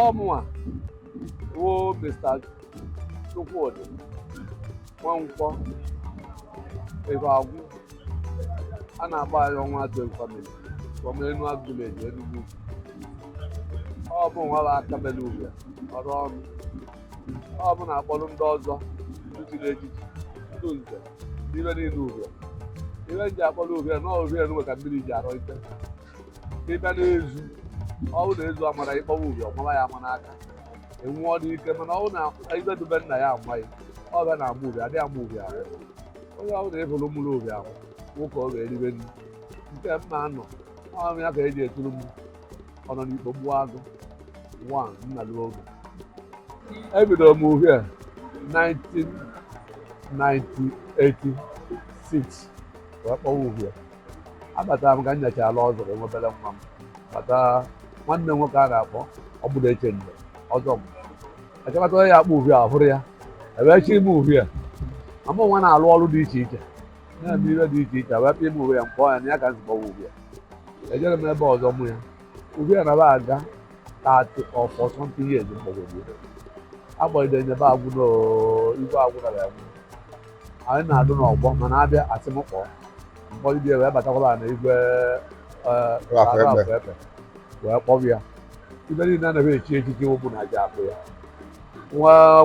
ọ mụwa wụ Mr. Chukwudi Nwankwọ ebe agwụ a na-agba anyị ọnwa atụ family from Enugu village Enugu ọ mụwa bụ aka mele ugwu ọrụ ọrụ ọ mụ na-akpọrọ ndị ọzọ ndị chiri echichi ndị nze n'ibe niile uhie ihe m ji akpọrọ uhie na uhie nwe ka mmiri ji arọ ite ị bịa n'ezi ọ wụ na ezi a maara ịkpọwa uhie ọ mara ya ama n'aka enwụọ n'ike mana ọ wụ na ibe dube nna ya amaghị ọ bịa na-ama uhie adịghị ama uhie ahụ onye ọwụna ị hụrụ mụrụ uhie ahụ nwoke ọ ga-eribe nri nke mma anọ ọrụ ya ka eji eturu m ọ nọ n'ikpo gbuo agụ nwa nna lụọ oge ebidoro m uhie 1986 wee kpọwa uhie abatara m ka m nyacha ala ọzọ wee nwebere nwa m bata nwanne m nwoke a na-akpọ ọgbụrụ eche mgbe ọzọ m achọkọta onye ya akpọ uhie a hụrụ ya ebe chi ime uhie ma mụ nwa na-alụ ọrụ dị iche iche na-eme ihe dị iche iche wee bịa ime uhie m kpọọ ya na ya ka m ji kpọwa uhie ejere m ebe ọzọ mụa uhie na ba aga 30 or 40 years mgbagwoju agbanyere nyebe agwụ na igwe agwụ na ya anyị na-adụ n'ọgbọ mana abịa asị m kpọọ m kpọgide wee batakwala na igwe afọ efe wee kpọrọ ya ibe niile a na-echi echichi ọ bụ na aja akpọ ya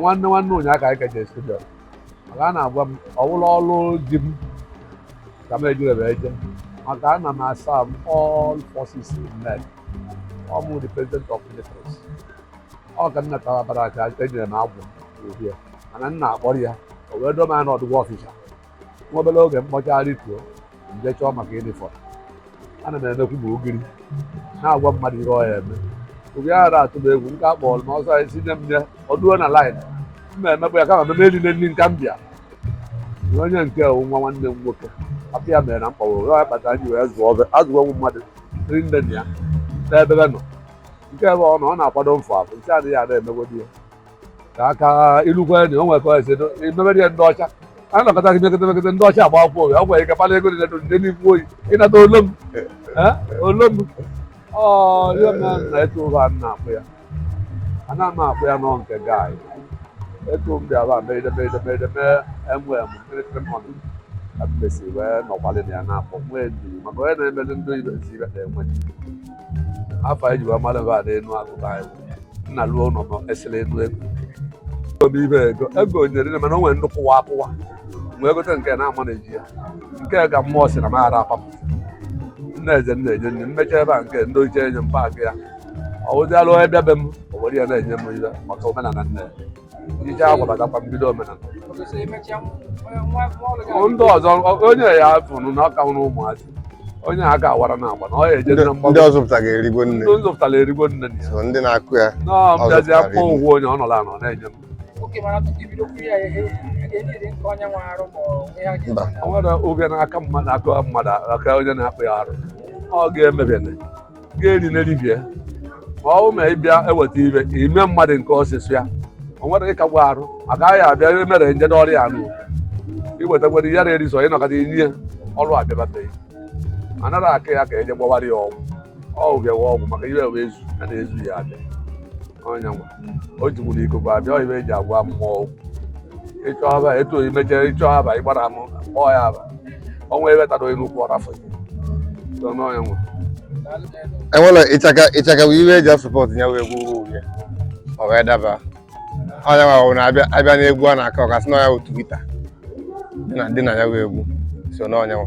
nwanne nwanne ụnyaahụ ka anyị ka je studio maka a na-agwa m ọwụla ọrụ ji m ka m ejirebe eje maka ana m a-serve all forces men ọ mụ the president of ministers ọ ka nna tawabara aka enyere m agwụ uhie mana nna akpọrọ ya o wee doo m anya n'ọdụgwọ officer nwa obere oge m kpọcha rituo m je chọọ maka uniform ana m emekwu ma ogiri na-agwa mmadụ ihe ọ ya eme oge ya ara atụ m egwu nke a kpọrọ m ọsọ ya si nye m nye ọ duo na line m na-emekwa ya kama meme niile ndị nka m bịa na onye nke wụ nwa nwanne m nwoke papa ya mere na m kpọrọ ya kpatara ji wee zụọ azụgwọ mmadụ ndị nne na ya n'ebe be nọ nke ebe ọ nọ ọ na-akwado mfụ afụ nke adịghị ada emegodi ya ka aka ilukwe na o nwere ka esi emebedi ya ndị ọcha a na-akọta gị mekọta mekọta ndị ọcha agba akwụkwọ oge o nwere ike kpala ego dị nedo ndị n'ikwu oyi ịnata olu m Eh? olu m ọ ihe m na etu ụgha m na-akpọ ya ana m akpọ ya nọ nke gaị etu m bịara ba meride meride meride mee emu emu kịrịkịrị mmanụ ka m mesiri wee nọkwalị na ya na-akpọ nwee ndidi maka onye na-emeli ndị ibe ezi ibe na-enwe ndidi afọ anyị jiwa mmadụ ba na enu akụkọ anyị nna lụọ ụlọ ma esere enu ego obi ibe ego ego nyere nne mana o nwere nnukwu wa akụwa wee gote nke na-ama na eji ya nke ka mmụọ si na m ara apapụ nna eze nna enye nne mmecha ebe a nke ndị oche enye m paakị ya ọ wụzialụ onye bịa be m o were ya na-enye m ihe maka omenala nne ya ije agwa batakwa mbido omenala ndị ọzọ onye ya tụrụ na ọka nwụrụ ụmụazị onye a ga awara na agba na ọ ya eje na mgbago ndị ọzọ pụtara erigo nne ndị zụpụtara erigo nne na ya so ndị na-akụ ya nọọ Ọ bịazi zụpụtara afọ iri. ụgwọ onye ọ nọla anọ na-enye m oke mana tupu ibido kwuru ya ihe a ga-enyere nke onye nwe arụ ma ọ ihe a Mba. ga-eme o nwere oge n'aka mmadụ aka mmadụ aka onye na-akpụ ya arụ ọ ga-emebene ga-eri n'eribie ma ọ bụ ma ị bịa eweta ibe ime mmadụ nke ọsịsụ ya o nwere gị kagbu arụ maka anyị abịa ihe mere nje n'ọrịa anụ iwetakwere ihe na-eri sọ ịnọkọta inye ya ọrụ abịabateghị anara aka ya ka eje gbawara ya ọgwụ ọgwụ bịawa ọgwụ maka ihe wee zu ya na-ezu ya abịa onye nwa o jigburu ikuku abịa ọ ibe eji agwa mmụọ okwu ịchọ aba etu oyi mechere ịchọ aba ịgbara m kpọọ ya aba ọnwa ebe tara onye n'ukwu ọrafọ so n'onye nwa enwere ịchaka ịchaka bụ ibe eji asọpọtụ ya wee gwuo egwu ọ wee daba onye nwa bụ na abịa abịa n'egwu a na-akụ ọkasị na ya bụ twita dị na ya wee egwu so n'onye nwa